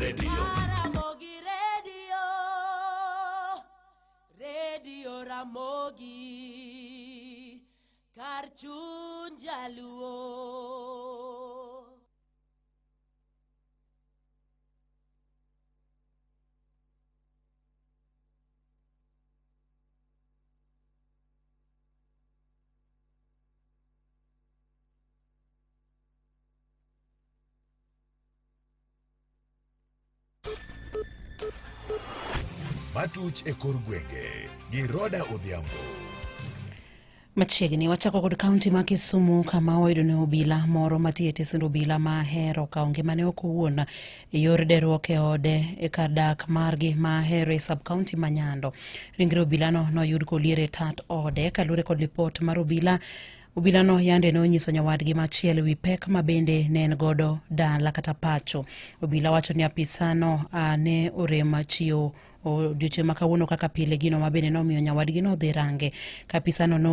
redio Ramogi redio redio Ramogi kar chuny jaluo Matuch e kor gwenge gi Roda Odhiambo. Machiegni wachako kod kaunti ma Kisumu kama wayudo ni obila moro matiyo e tesend obila ma hero kawo ngimane ok owuon e yor deruok e ode e kar dak margi ma ahero e subcounty ma nyando ringre obilano noyud kolier e tat ode kaluwore kod lipot mar obila Obilano yande ne onyiso nyawadgi machielo wi pek ma bende ne en godo dala kata pacho. Obila wacho ni apisano ne orem chiwo odiochieng' ma kawuono kaka pile gino ma bende nomiyo nyawadgi nodhi range ka apisano ne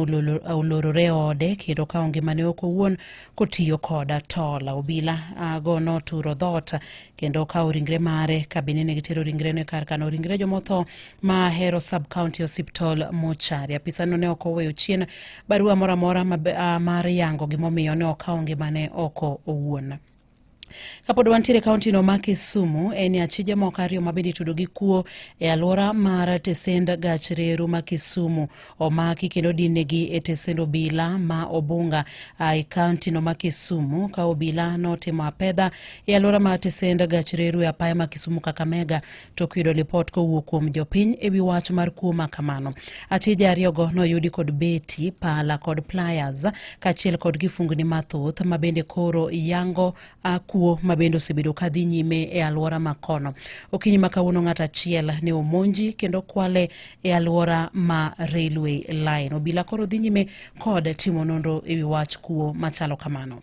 olorore e ode kendo kawo ngimane ok owuon kotiyo koda tol obila go noturo dhoot kendo kawo ringre mare ka bende ne gitero ringreno e kar kano ringre jomotho ma hero sub county hospital mochari apisano ne ok oweyo chien barua moro amora mar yango gimomiyo ne okawo ngimane oko owuon Kapod wantiere kauntino ma Kisumu, en ni achije moko ariyo ma bende itudo gi kuo e alwora mar tesend gach reru ma Kisumu omaki kendo dinegi e tesend obila ma Obunga e kauntino ma Kisumu ka obila notimo apedha e alwora mar tesend gach reru e apaya ma Kisumu Kakamega tok yudo lipot kowuok kuom jopiny e wi wach mar kuo ma kamano. Achije ariyogo noyudi kod beti, pala kod pliers kaachiel kod kifungni mathoth ma bende koro yango kuo ma bende osebedo ka dhi nyime e alwora ma kono. Okinyi ma kawuono ng'at achiel ne omonji kendo kwale e alwora ma railway line. Obila koro dhi nyime kod timo nonro e wi wach kuo machalo kamano.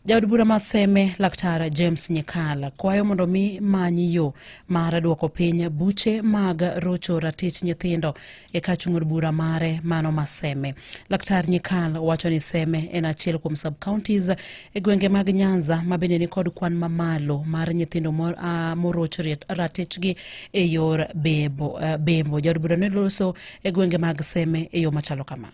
Jaod bura ma Seme Laktar James Nyikala kwayo mondo mi manyi yo mar duoko piny buche mag rocho ratich nyithindo e ka chung'od bura mare mano ma Seme. Laktar Nyikal wacho ni Seme en achiel kuom sub counties e gwenge mag Nyanza ma bende nikod kwan mamalo mar nyithindo ah, moroch ratichgi e yor bebo. Eh, bembo jaod bura ne loso e gwenge mag Seme e yo machalo kama.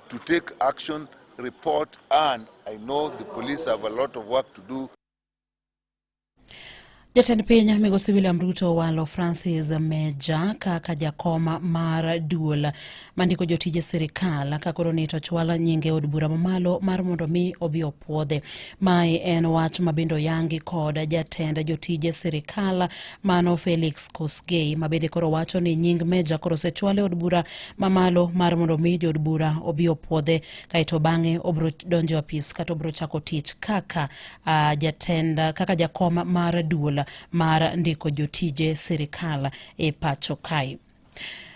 to take action, report, and I know the police have a lot of work to do. Jatend piny migosi William Ruto walo Francis Meja kaka jakoma mar duol mandiko jotije sirikal ka koro ni to chwal nyinge od bura mamalo mar mondo mi obi opuodhe. Mae en wach mabende oyangi kod jatend jotije sirikal mano Felix Kosgei mabende koro wacho ni nying Meja koro osechwal e od bura mamalo mar mondo mi jod bura obi opwodhe kaeto bang'e obro donjo apis kata obro chako tich kaka uh, jatend kaka jakom mar duol mar ndiko jotije sirikal e pacho kae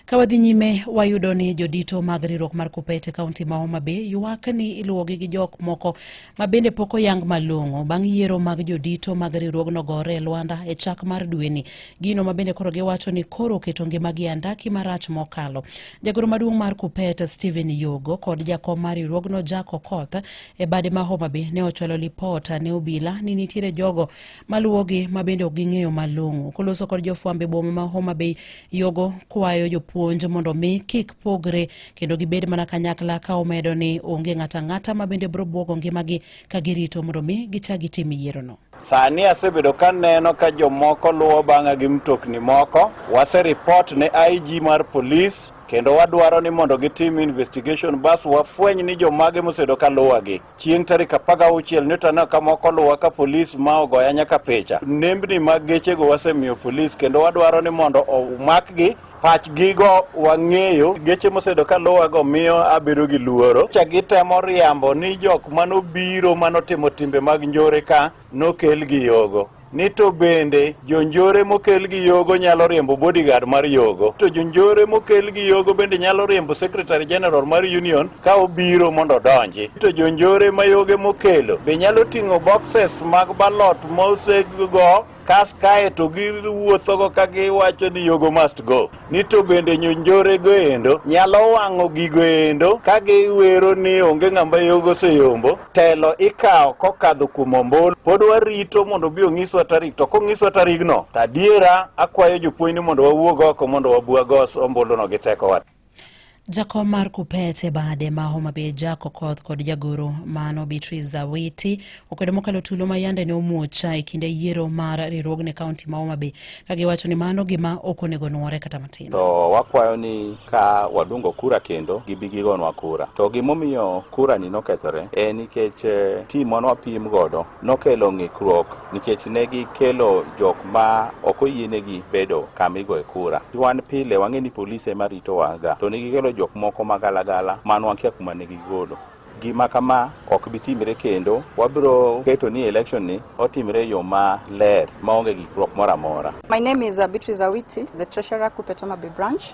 Ka wadhi nyime, wayudo ni jodito mag riwruok mar KUPPET e kaunti ma Homa Bay ywak ni iluwogi gi jok moko ma bende pok oyang malong'o bang' yiero mag jodito mag riwruogno gore e lwanda e chak mar dweni gino ma bende koro giwacho ni koro oketo ngimagi e andaki marach mokalo jagoro maduong' mar kupet stephen yogo kod jakom mar riwruogno jack okoth e bade ma homabay ne ochwalo lipot ne obila ni nitiere jogo maluwogi ma bende ok ging'eyo malong'o koloso kod jofwambe boma ma homabay yogo kwayo jopuonj mondo mi kik pogre kendo gibed mana kanyakla ka omedo ni onge ng'ato ang'ata ma bende biro bwogo ngimagi ka girito mondo mi gichak gitim yierono. Sani asebedo ka neno ka jomoko luwo bang'a gi mtokni moko. Waseripot ne IG mar polis kendo wadwaro ni mondo gitim investigation bas wafweny ni jomage mosebedo ka luwagi. Chieng' tarik 16 ne taneno ka moko luwa ka polis ma ogoya nyaka picha. Nembni mag gechego wasemiyo polis kendo wadwaro ni mondo omakgi pachgigo wang'eyo geche mosedo ka luwago miyo abedo gi luoro cha gitemo riambo ni jok manobiro manotimo timbe mag njore ka nokelgi yogo ni to bende jonjore mokel gi yogo nyalo riembo bodyguard mar yogo to jonjore mokel gi yogo bende nyalo riembo secretary general mar union ka obiro mondo odonji to jonjore ma yoge mokelo be nyalo ting'o boxes mag balot mosego kas kae to giwuothogo ka giwacho ni yogo must go ni to bende nyonjorego endo nyalo wang'o gigo endo ka giwero ni onge ng'ama yogo oseyombo telo ikawo kokadho kuom ombulu pod warito mondo obi ong'iswa tarik to kong'iswa tarigno to adiera akwayo jopuonj ni mondo wawuog oko mondo wabwag ombuluno gi tekowa Jakom mar Kupet e bade ma Homa Bay Jack Okoth kod jagoro mano Beatrice Zawiti okwedo mokalo tulo ma yande ne omuocha e kinde yiero mar riwruogne kaunti ma Homa Bay ka giwacho ni mano gima ok onego nuore kata matin. To wakwayo ni ka wadungo kura kendo gibi gigonwa kura. To gimomiyo kura ni nokethore en nikech eh, tim mane wapim godo nokelo ng'ikruok nikech ne gikelo jok ma ok oyienegi bedo kama igoye kura. Wan pile wang'e ni polise ema ritowa ga, to ne gikelo jok moko ma galagala man wakia kuma ne gigolo. Gima kama ok bi timre kendo, wabiro keto ni election ni otimre yo ma ler maonge gikruok moro amora. My name is uh, Beatrice Awiti, the treasurer Kupetoma Bay branch.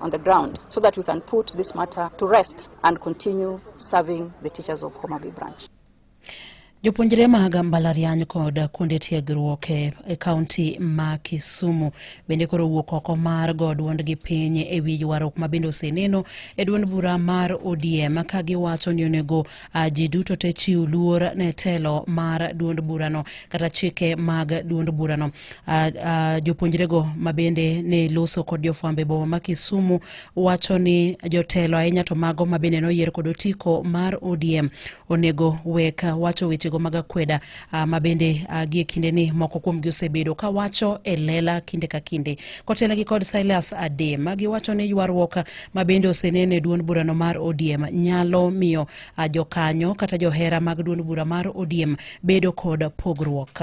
on the ground so that we can put this matter to rest and continue serving the teachers of Homa Bay branch. Jopuonjre mag mbalariany kod kuonde tiegruok e, e kaunti ma Kisumu bende koro wuok oko mar go duondgi piny e wi ywaruok ma bende oseneno e duond bura mar ODM ka giwacho ni onego ji duto te chiw luor ne telo mar duond burano kata chike mag duond burano. uh, uh, jopuonjrego mabende ne loso kod jofwambo e boma ma Kisumu wacho ni jotelo ahinya to mago mabende noyier kod otiko mar ODM onego wek wacho wechego mag akweda uh, mabende uh, gie kinde ni moko kuomgi osebedo ka wacho e lela kinde ka kinde kotelnegi kod Silas Ade ma giwacho ni ywaruok mabende osenene duond burano mar ODM nyalo miyo uh, jokanyo kata johera mag duond bura mar ODM bedo kod pogruok.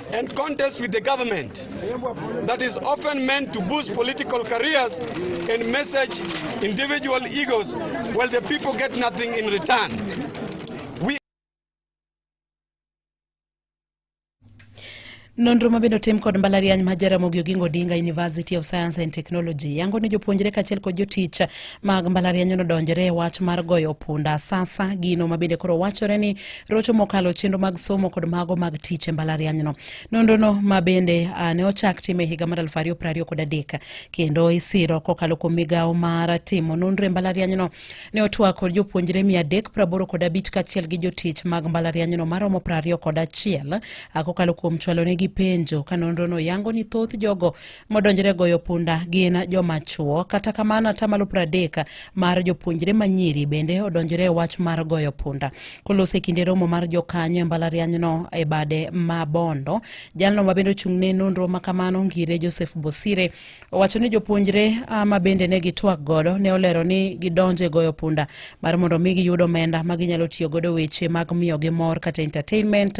and contest with the government that is often meant to boost political careers and message individual egos while the people get nothing in return. Nonro ma bende otim kod mbalariany ma Jaramogi Oginga Odinga University of Science and Technology yango ni jopuonjre kaachiel kod jotich mag mbalariany nodonjore e wach mar goyo punda sasa, gino ma bende koro wachore ni rocho mokalo chenro mag somo kod mago mag tich e mbalarianyno. Nonrono ma bende uh, ne ochak time higa mar 2020 kod adek kendo isiro kokalo kuom migawo mar timo nonro e mbalarianyno ne otwako jopuonjre 385 kod abich kaachiel gi jotich mag mbalarianyno maromo 20 kod achiel uh, kokalo kuom chwalonegi penjo ka nonrono yango ni thoth jogo modonjre goyo punda gin joma chwo. Kata kamano, atamalo pradek mar jopuonjre manyiri bende odonjre e wach mar goyo punda. Kolos e kinde romo mar jokanyo e mbalarianyno e bade ma Bondo, jalno ma bende ochung'ne nonro ma kamano ngire Joseph Bosire owacho ni jopuonjre ma bende ne gitwak godo ne olero ni gidonje goyo punda mar mondo mi giyud omenda ma ginyalo tiyo godo weche mag miyo gi mor kata entertainment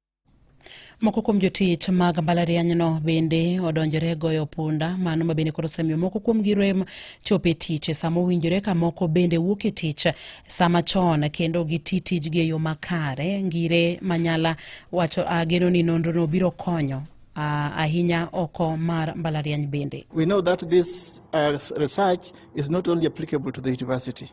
Moko kuom jotich mag mbalarianyno bende odonjore goyo punda, mano ma bende koro osemiyo moko kuom gi rem chopo e tich e sama owinjore ka moko bende wuok e tich sama chon kendo giti tijgi e yo makare. Ngire Manyala wacho ageno ni nonrono biro konyo ahinya oko mar mbalariany bende. We know that this uh, research is not only applicable to the university.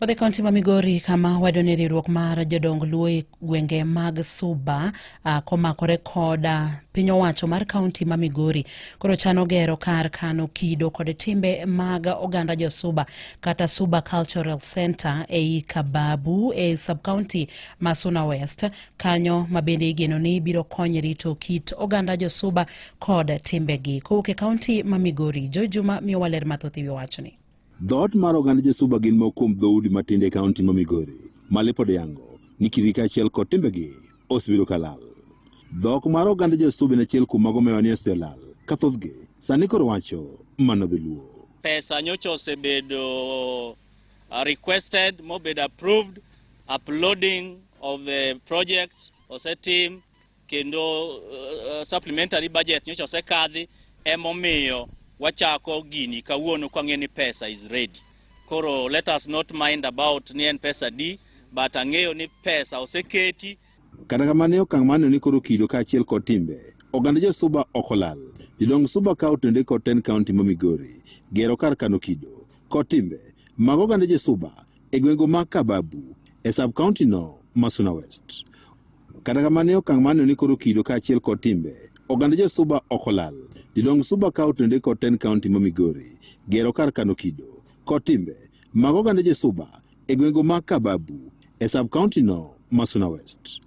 Wadhi kaunti ma Migori kama wado ni riwruok mar jodong Luo e gwenge mag Suba uh, komakore koda piny owacho mar kaunti ma Migori koro chano gero kar kano kido kod timbe mag oganda jo Suba kata Suba Cultural Center ei Kababu e subcounty ma Suna West kanyo ma bende igeno ni biro konyo rito kit oganda jo Suba kod timbegi. Kowuok e kaunti ma Migori, Joe Juma miyo waler mathoth e wi wachni. Dhoot mar oganda Josuba gin moko kuom dhoudi matindo e kaunti ma Migori ma lipod yango ni kitgi kaachiel kod timbegi osebedo ka lal. Dhok mar oganda Josuba en achiel kuom mago mewa ni oselal ka thothgi sani koro wacho mana dholuo. Pesa nyocha osebedo uh, requested mobedo approved uploading of the project osetim kendo uh, supplementary budget nyocha osekadhi emomiyo wachako gini kawuono kwang'e ni pesa is ready koro let us not mind about ni en pesa di but ang'eyo ni pesa oseketi kata kamano e okang' maneno ni koro kido kaachiel kod timbe oganda josuba ok olal jodong suba kawo tende kod ten kaunti ma migori gero kar kano kido kod timbe mag oganda josuba e gwengego ma Kababu e sub-county no ma Suna West. Kata kamano e okang' mano ni koro kido kaachiel kod timbe oganda jo Suba ok olal. Jodong Suba kawo tende kod ten county ma Migori gero kar kano kido kod timbe mag oganda jo Suba e gwengego ma Kababu e sub-county no ma Suna West.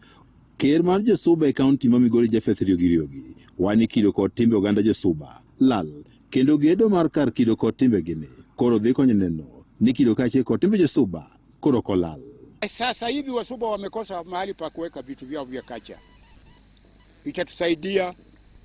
Ker mar jo Suba e county ma Migori Japheth Riogi Riogi wani kido kod timbe oganda jo Suba lal Kendo gedo mar kar kido kod timbe gini koro dhi konyo neno ni kido kaachiel kod timbe josuba koro kolal. Eh, sasa hivi wasuba wamekosa mahali pa kuweka vitu vyao vya kacha, itatusaidia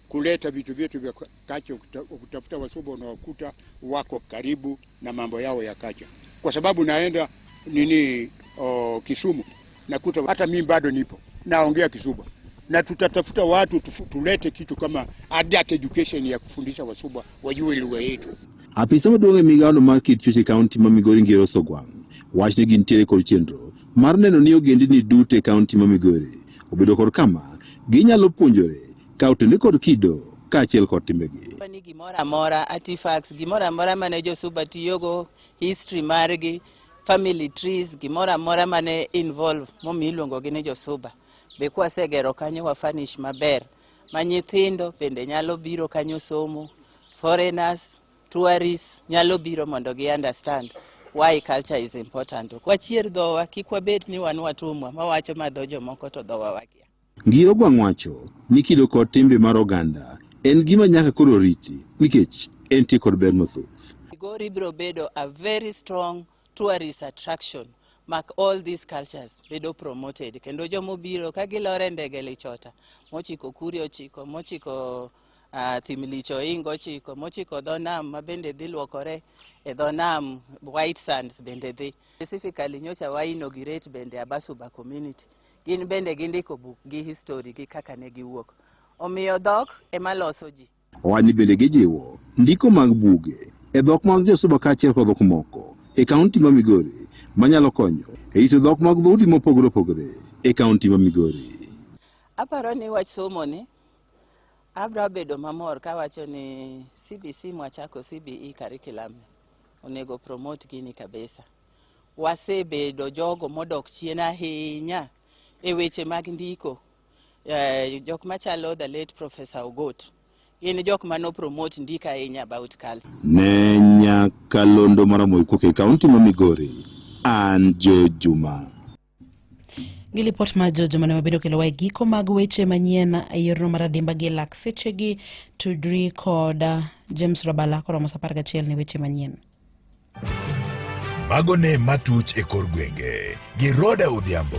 kuleta vitu vyetu vya kacha, ukitafuta wasuba unawakuta wako karibu. na mambo yao ya kacha, kwa sababu naenda nini o, Kisumu nakuta hata mimi bado nipo naongea Kisuba, na tutatafuta watu tufu, tulete kitu kama adult education ya kufundisha Wasuba wajue lugha yetu. Apisa maduong' e migawono mar kit chuech e kaunti ma Migori Ngero Sogwang' wach ni gintiere kod chenro mar neno ni ogendini duto e kaunti ma Migori obedo kod kama ginyalo puonjore Kaw tende kod kido kaachiel kod timbegi. Ni gimoro amora artifacts, gimoro amora mane josuba tiyogo, history margi, family trees, gimoro amora mane involve momi iluongo gi ni josuba. Be kwasegero kanyo wa furnish maber ma nyithindo bende nyalo biro kanyo somo, foreigners, tourists nyalo biro mondo gi understand why culture is important. Wachier dhowa kik wabed ni wan watumwa mawacho ma dho jomoko to dhowa wakia. Ngiro Gwang' wacho ni kido kod timbe mar oganda en gima nyaka koro riti nikech entie kod ber mathoth. Migori biro bedo a very strong tourist attraction mak all these cultures bedo promoted kendo joma obiro ka gilore ndege lichota mochiko kuri ochiko mochiko uh, thimlicho ingo ochiko mochiko dho nam ma bende dhi luokore e dho nam white sands bende dhi specifically nyocha wa inaugurate bende abasuba community Gin bende gindiko buk gi histori gi kaka ne giwuok. Omiyo dhok ema loso ji. Owadni bende gijiwo ndiko mag buge e dhok mag Josuba kaachiel kod dhok moko e kaunti ma Migori manyalo konyo e rito dhok mag dhoudi mopogore opogore e kaunti ma Migori. Aparo ni wach somo ni abra bedo mamor kawacho ni CBC mwachako CBE curriculum onego promote gini kabisa. wasebedo jogo modok chien ahinya e weche mag ndiko eh, jok machalo the late professor ogot gin jok ma nopromote ndiko ahinya about culture ne nyakalondo maramoikuok e kaunti ma migori an jo juma gi lipot mar jojo mane wabedo kelowa e giko mag weche manyien e yorno mar adimba gi lak sechegi tudri kod uh, james rabala koromo sa apar gachiel ne weche manyien mago ne matuch e kor gwenge gi roda odhiambo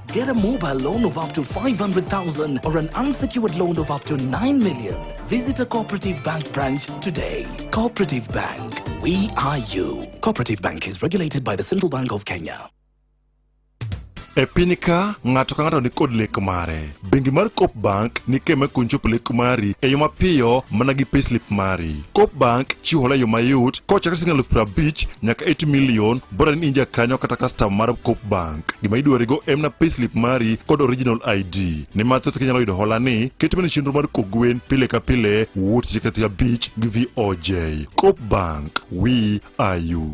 Get a mobile loan of up to 500,000 or an unsecured loan of up to 9 million. Visit a Cooperative Bank branch today. Cooperative Bank, we are you. Cooperative Bank is regulated by the Central Bank of Kenya. e piny ka ng'ato ka ng'ato nikod lek mare bengi mar cop bank ni kema kun chopo lek mari e yo mapiyo mana gi payslip mari cop bank chiwo hola e yo mayot kochakre siling alufu prabich nyaka 8 milion Bora ni inja kanyo kata custom mar Coop Bank. Gima idwarigo en na payslip mari kod original ID. Ni ma thoth kinyalo yudo hola ni ket mana chenro mar kok gwen pile ka pile wuot chikati abich gi VOJ. Coop Bank, we are you.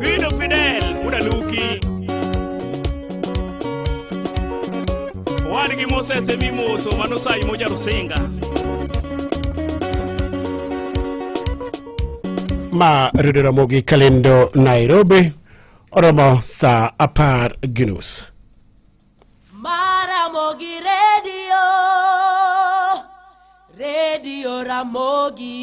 Fido Fidel udaluki owadgi Moses emimoso manosayi mojarusinga ma Redio Ramogi Kalendo Nairobi oromo saa apar gi nus. Maramogi redio, redio Ramogi.